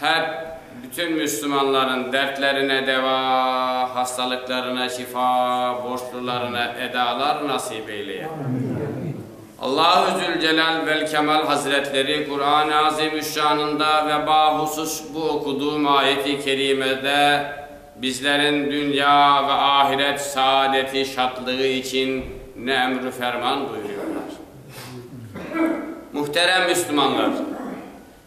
Hep bütün müslümanların dertlerine deva, hastalıqlarına şifa, borçlularına edalar nasip eyleye. Allahu Zülcelâl Velkemal Hazretleri Quran-ı Azimüşşanında ve bahusus bu okuduğım ayet-i kerimede bizlerin dünya ve ahiret saadeti, şatlığı içün ne emr-ü ferman buyuruyorlar. Muhterem müslümanlar!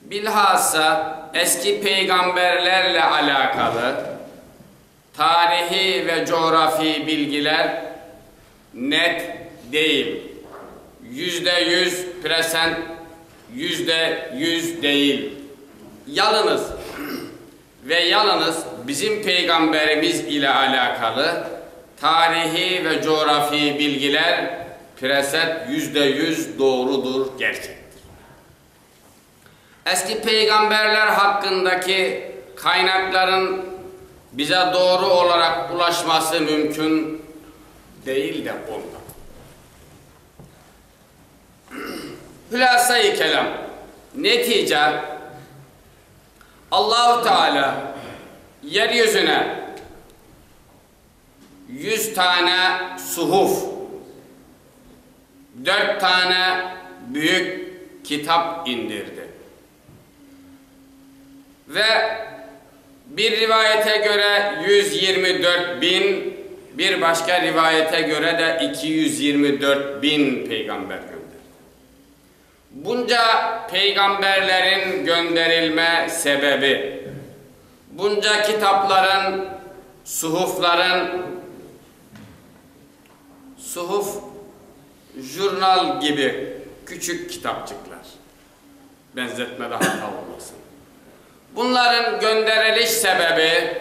Bilhassa eski peyğamberlerle alâqalı tarihiy ve coğrafiy bilgiler net deyil, yüzde yüz prosent yüzde yüz deyil, yalıñız ve yalıñız bizim peyğamberimiz ile alâqalı tarihiy ve coğrafiy bilgiler prosent yüzde yüz doğrudur, kerçektir. Eski peyğamberler haqqındaki qaynaqların bize doğru olaraq ulaşması mümkün değil de oldı. Hulâsa-i kelâm, netice, Allahu Teâlâ yer yüzüne, yüz tane suhuf, dört tane büyük kitap indirdi. Ve bir rivayete köre, yüz yirmi dört biñ, bir başqa rivayete köre de, iki yüz yirmi dört biñ peyğamber gönderdi. Bunca peyğamberlerin gönderilme sebebi, bunca kitapların, suhufların, suhuf, jurnal kibi küçük kitapçıqlar, benzetmede hata olmasın, Bunların gönderiliş sebebi,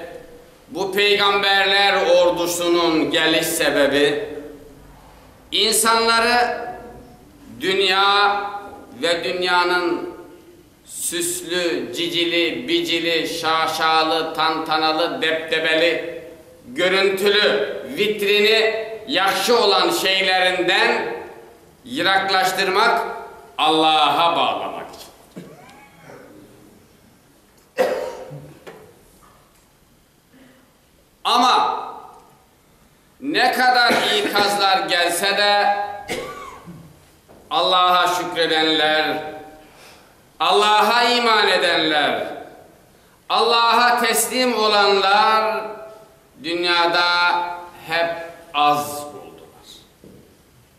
bu peyğamberler ordusınıñ geliş sebebi, insanları dünya ve dünyanıñ süslü, cicili, bicili, şaşalı, tantanalı, deptebeli, görüntili, vitrini yahşı olan şeylerinden Yıraqlaştırmaq, Allağa bağlamaq içün. Amma ne qadar iqazlar gelse de, Allağa şükredenler, Allağa iman edenler, Allağa teslim olanlar dünyada hep az oldılar.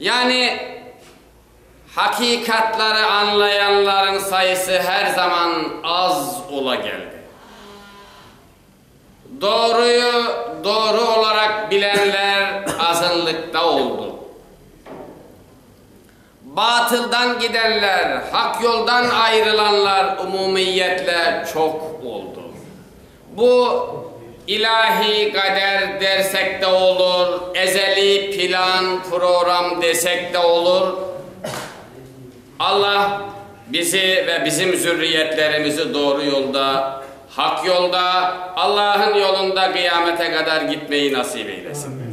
Yani, haqiqatları añlayanlarıñ sayısı her zaman az ola keldi. Doğruyı doğru olaraq bilenler azınlıqta oldu. Batıldan gidenler, haq yoldan ayırılanlar umumiyetle çoq oldı. Bu, ilahiy qader dersek de olur, ezeliy plan, proram desek de olur. Allah bizi ve bizim zürriyetlerimizi doğru yolda, haq yolda, Allahın yolunda qıyamete qadar gitmeyi nasip eylesin.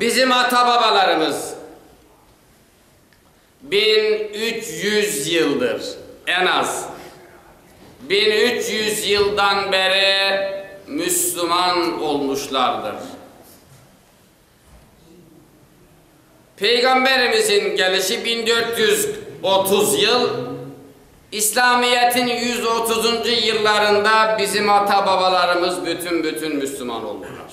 Bizim ata-babalarımız biñ üç yüz yıldır, en az, biñ üç yüz yıldan beri müslüman olmuşlardır. Peyğamberimizin gelişi biñ dört yüz otuz yıl, İslâmiyetin yüz otuzuncı yıllarında bizim ata-babalarımız bütün-bütün müslüman oldılar.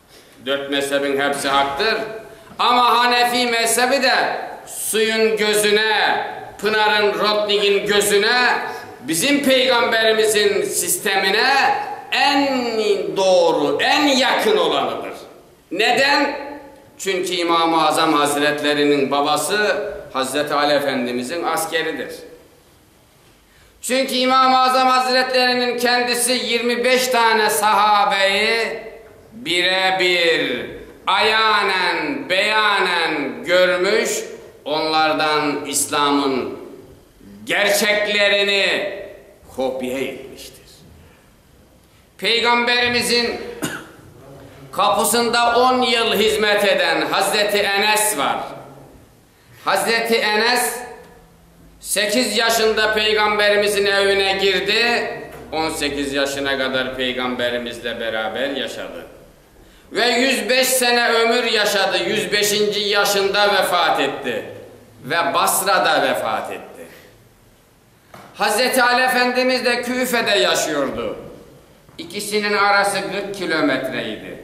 Dört mezhebiñ hepsi aqtır, amma hanefiy mezhebi de suyuñ gözüne, pınarıñ rotnigiñ gözüne, bizim peyğamberimiziñ sistemine eñ doğru, eñ yaqın olanıdır. Neden? Çünki İmam-ı Azam Hazretleriniñ babası Hazreti Ali Efendimizin askeridir. Çünki İmam-ı Azam Azretleriniñ kendisi yirmi beş tane sahabeyi bire-bir, ayanen, beyanen görmüş, onlardan İslam'ın gerçeklerini kopya etmiştir. Peyğamberimizin qapusında on yıl hizmet eden Hazreti Enes var. Hazreti Enes, Sekiz yaşında Peyğamberimizin evine girdi, on sekiz yaşına qadar Peyğamberimizle beraber yaşadı. Ve yüz beş sene ömür yaşadı, yüz beşinci yaşında vefat etti ve Basrada vefat etti. Hazreti Ali Efendimiz de Küfede yaşıyordu. İkisiniñ arası qırq kilometre idi.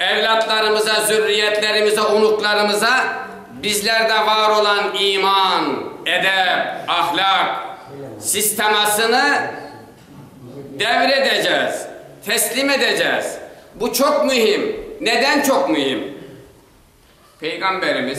Evlâtlarımıza, zürriyetlerimize, unuqlarımıza bizlerde var olan iman, edep, ahlâq sistemasını devir edeceğiz, teslim edeceğiz. Bu çoq mühim. Neden çoq mühim? Peyğamberimiz.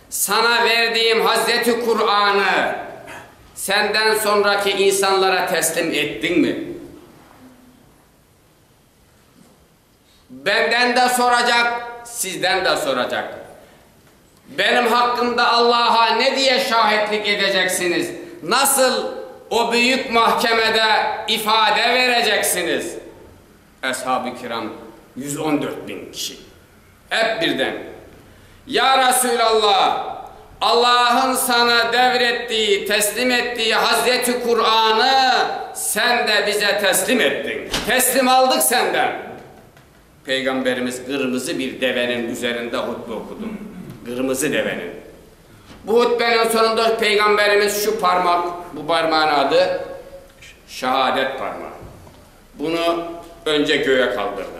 Saña verdiğim Hazreti Quranı senden soñraki insanlara teslim ettiñmi? Benden de soracaq, sizden de soracaq. Benim haqqımda Allaha ne diye şahitlik edeceksiñiz? Nasıl o büyük mahkemede ifade vereceksiñiz? Eshab-ı kiram, yüz on dört biñ kişi. Ep birden, Ya Resülallah, Allahnıñ saña devr ettiği, teslim ettiği Hazreti Quranı sen de bize teslim ettiñ, teslim aldıq senden! Peyğamberimiz qırmızı bir deveniñ üzerinde hutbe oqudı. Qırmızı deveniñ. Bu hutbeniñ soñunda Peyğamberimiz şu parmaq, bu parmağın adı Şehadet parmağı, bunı önce göğe qaldırdı.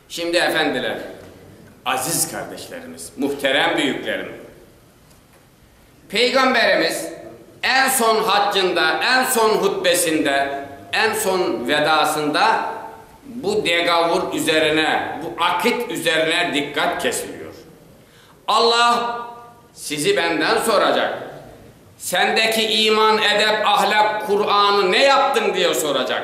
Şimdi, efendiler, aziz kardeşlerimiz, muhterem büyüklerim, Peyğamberimiz en son haccında, en son hutbesinde, en son vedasında bu degovur üzerine, bu akit üzerine dikkat kesiliyor. Alla sizi benden soracaq, sendeki iman, edep, ahlâk, Kur'anı ne yaptıñ diye soracaq.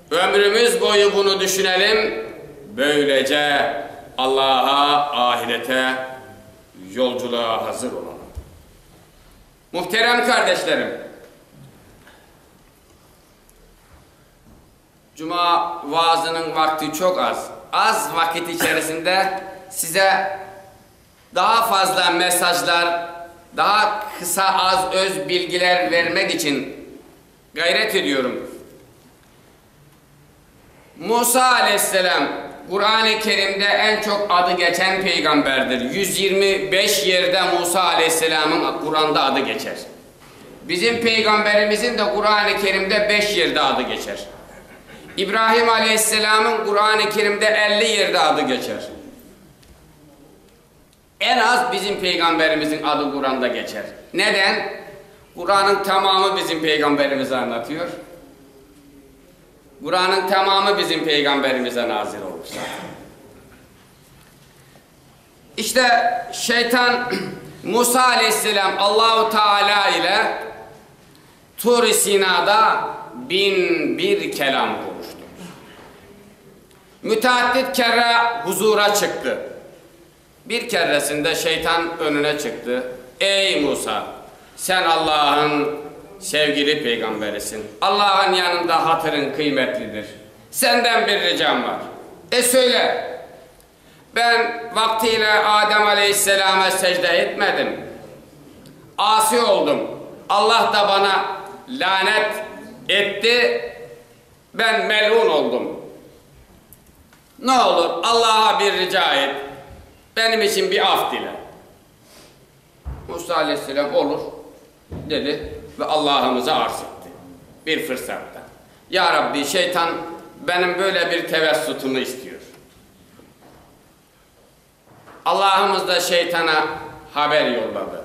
Ömrümiz boyu bunı düşünelim, böylece Allağa, ahirete, yolculuğa hazır olalım. Muhterem qardeşlerim, cuma vaazınıñ vaqti çoq az. Az vaqit içerisinde size daa fazla mesajlar, daa qısa, az öz bilgiler vermek içün, Ğayret ediyorum. Musa aleyhisselam, Quran-ı Kerimde en çoq adı geçen peyğamberdir. Yüz yirmi beş yerde Musa aleyhisselamın Quranda adı geçer. Bizim peyğamberimizin de Quran-ı Kerimde beş yerde adı geçer. İbrahim aleyhisselamın Quran-ı Kerimde elli yerde adı geçer. En az bizim Peyğamberimizniñ adı Quranda keçer. Neden? Quranıñ tamamı bizim Peyğamberimizi añlatıyor. Quranıñ tamamı bizim Peyğamberimize nazil olupsa. İşte, şeytan Musa aleyhisselam Allahu Teala ile Tur-i Sinada bin bir kelâm quruştı. Müteaddit kerre huzura çıqtı. Bir kerresinde Şeytan önüne çıqtı, Ey, Musa! Sen Allaah'ın sevgili peygamberisin. Allaah'ın yanında hatırıñ qıymetlidir. Senden bir ricam bar. E, söyle! Ben vaqtiyle Adem aleyhisselâma secde etmedim. Asi oldum. Allaah da bana lânet etti. Ben mel'un oldum. Ne olur, Allağa bir rica et, benim içün bir af dile. Musa aleyhisselam, Olur, dedi ve Allahımıza arz etti, bir fırsatta, Ya Rabbi, şeytan benim böyle bir tevessutımı istiyor. Allahımız da şeytana haber yolladı.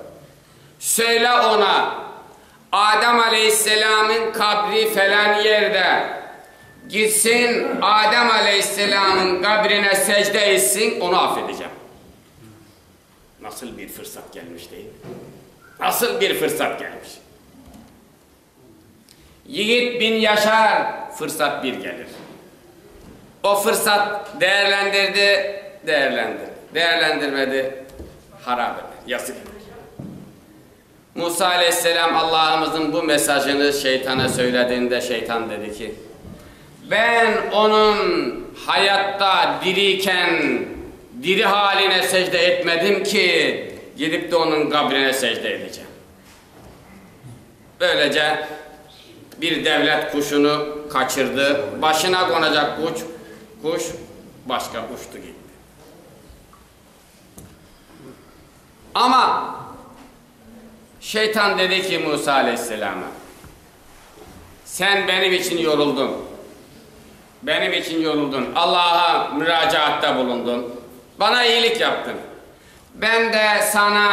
Söyle oña, Adem aleyhisselamnıñ qabri falan yerde, gitsin, Adem aleyhisselamnıñ qabrine secde etsin, onı af edecem. Nasıl bir fırsat gelmiş, değil mi? Nasıl bir fırsat gelmiş! Yigit biñ Yaşar fırsat bir gelir. O fırsat değerlendirdi, değerlendirdi, değerlendirmedi, harap eder, yası gelir. Musa aleyhisselam Allahımızıñ bu mesajını şeytana söylediğinde şeytan dedi ki, Ben onıñ hayatta diriyken diri haline secde etmedim ki, gidip de onıñ qabrine secde edecem. Böylece, bir devlet quşunı qaçırdı, başına qonacaq quç, quş başqa uçtı gitti. Amma Şeytan dedi ki, Musa aleyhisselâma, Sen benim için yoruldun, benim için yoruldun, Allaha müracaatta bulundun, bana iyilik yaptın, ben de sana,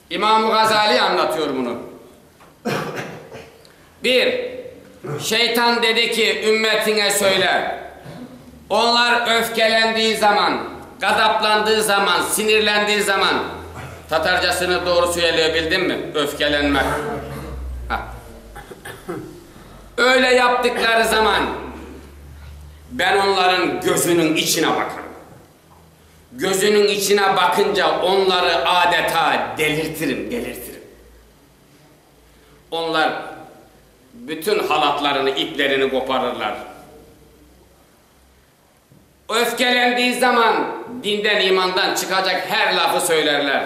İmam Ğazali añlatıyor bunı. Bir, Şeytan dedi ki, ümmetiñe söyle, onlar öfkelendiği zaman, ğazaplandığı zaman, sinirlendiği zaman, tatarcasını doğru söyleybildim mi, öfkelenmek, ha, öyle yaptıqları zaman, ben onların gözüniñ içine bakarım. Gözüniñ içine baqınca onları adeta delirtirim, delirtirim. Onlar bütün halatlarını, iplerini qoparırlar. Öfkelendiği zaman dinden, imandan çıqacaq her lafı söylerler.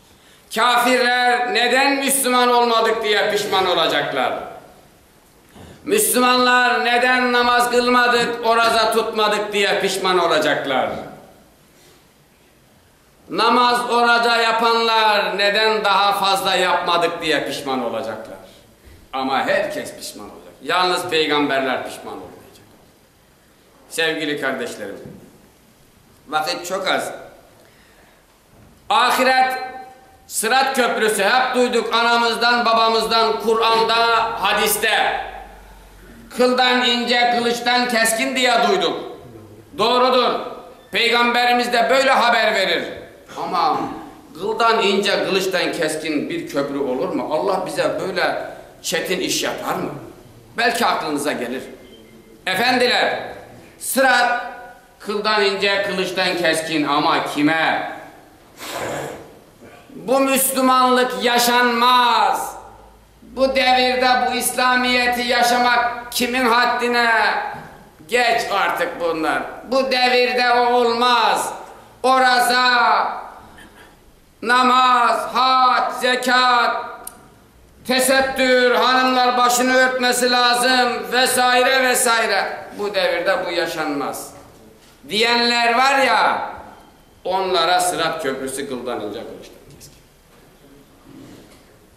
Kâfirler neden müslüman olmadıq diye pişman olacaqlar? Müslümanlar neden namaz qılmadıq, oraza tutmadıq diye pişman olacaqlar? Namaz, oraza yapanlar neden daha fazla yapmadıq diye pişman olacaqlar? Amma her kes pişman olacaq. Yalnız peyğamberler pişman olmayacaq. Sevgili qardeşlerim, vaqıt çoq az. Ahiret, Sırat köprüsi, hep duyduk anamızdan, babamızdan, Quranda, hadiste. Qıldan ince, qılıçtan keskin diye duyduk. Doğrudır, Peyğamberimiz de böyle haber verir. Amma qıldan ince, qılıçtan keskin bir köprü olurmı? Allah bize böyle çetin iş yaparmı? Belki aqlınıza gelir. Efendiler, Sırat Qıldan ince, qılıçtan keskin, amma kime? Bu müslümanlıq yaşanmaz! Bu devirde bu İslamiyeti yaşamaq kimiñ haddine? Geç artıq bunlar! Bu devirde o olmaz! Oraza! Namaz, hac, zekât, tesettür, hanımlar başını örtmesi lazım ve saire ve saire, bu devirde bu yaşanmaz diyenler var ya, onlara Sırat Köprüsü qıldan ince qılıçtan keskin.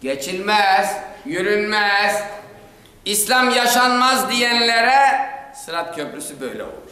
Geçilmez, yürünmez, İslam yaşanmaz diyenlere Sırat Köprüsü böyle olur.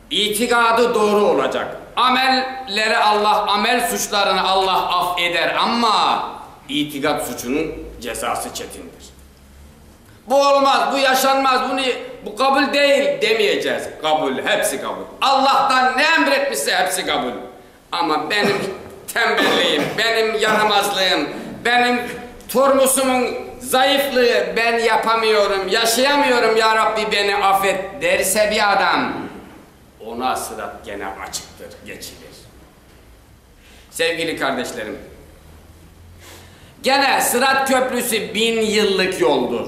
İtigadı doğru olacaq. Amelleri Allah amel suçlarını Allah af eder, amma itigad suçunıñ cezası çetindir. Bu olmaz, bu yaşanmaz, bunı bu qabul deyil demeyeceğiz. Qabul, hepsi qabul. Allah'tan ne emretmişse hepsi qabul. Amma benim tembelliyim, benim yaramazlığım, benim turmusımıñ zayıflığı, ben yapamıyorum, yaşayamıyorum, ya Rabbi, beni afet, derse bir adam, oña sırat gene açıqtır, geçilir. Sevgili qardeşlerim, gene sırat köprüsi biñ yıllıq yoldur.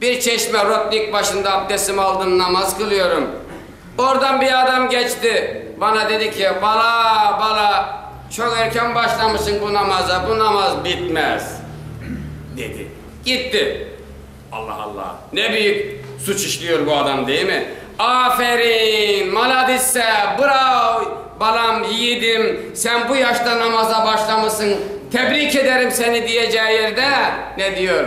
Bir çeşme, rotnik başında abdesimi aldım, namaz qılıyorum. Oradan bir adam keçti, bana dedi ki, bala, bala, çoq erken başlamışsıñ bu namaza, bu namaz bitmez, dedi. Gitti. Allah, Allah, ne büyük suç işliyor bu adam, deymi? Aferin, maladisse, brao, balam, yiğidim, sen bu yaşta namaza başlamışsıñ, tebrik ederim seni, diyeceği yerde, ne diyor?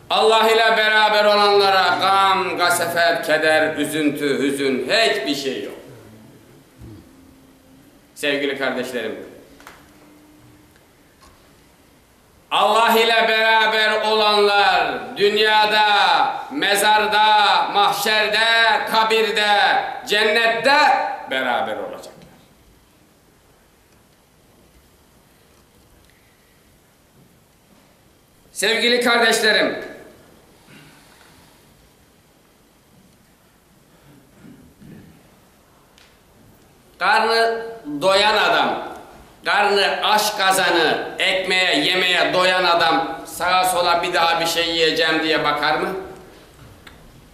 Allah ile beraber olanlara ğam, ğasefet, keder, üzüntü, hüzün, heç bir şey yoq. Sevgili kardeşlerim, Allah ile beraber olanlar dünyada, mezarda, mahşerde, kabirde, cennette beraber olacaqlar. Sevgili qardeşlerim, qarnı doyan adam, qarnı aç qazanı, ekmeğe, yemeğe doyan adam sağa-sola bir daha bir şey yiyeceğim diye baqarmı?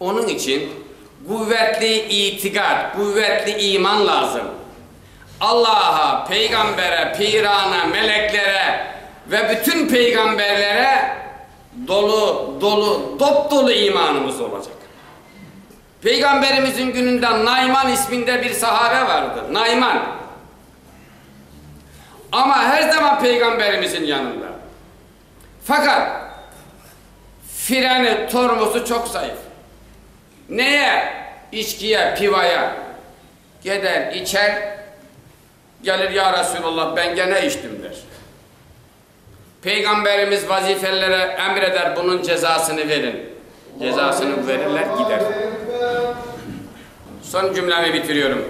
Onıñ içün quvetli itiqat, quvetli iman lazım. Allaha, peygambere, pirana, meleklere ve bütün peygamberlere dolu, dolu, dop-dolu imanımız olacaq. Peygamberimizin gününde Nayman isminde bir sahabe vardı, Nayman. Amma her zaman peygamberimizin yanında. Faqat, firâni tormozu çoq zayıf. Neye içkiye, pivaya geder, içer, gelir, ya Rasulullah, ben gene içtim, der. Peyğamberimiz vazifelilere emr eder, bunun cezasını verin. Cezasını verirler, gider. Son cümlemi bitiriyorum.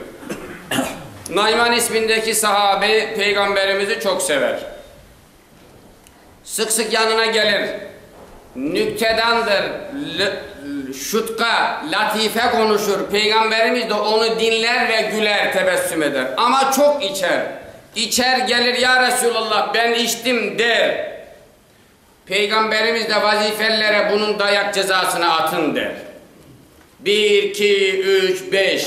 Nayman ismindeki sahabi Peyğamberimizi çoq sever. Sıq-sıq yanına gelir, nüktedandır şutqa, latife qonuşır, Peyğamberimiz de onı diñler ve güler, tebessüm eder. Amma çoq içer. İçer, gelir, Ya Resulallah, ben içtim, der. Peyğamberimiz de vazifelilere bunıñ dayaq cezasını atın, der. Bir, iki, üç, beş.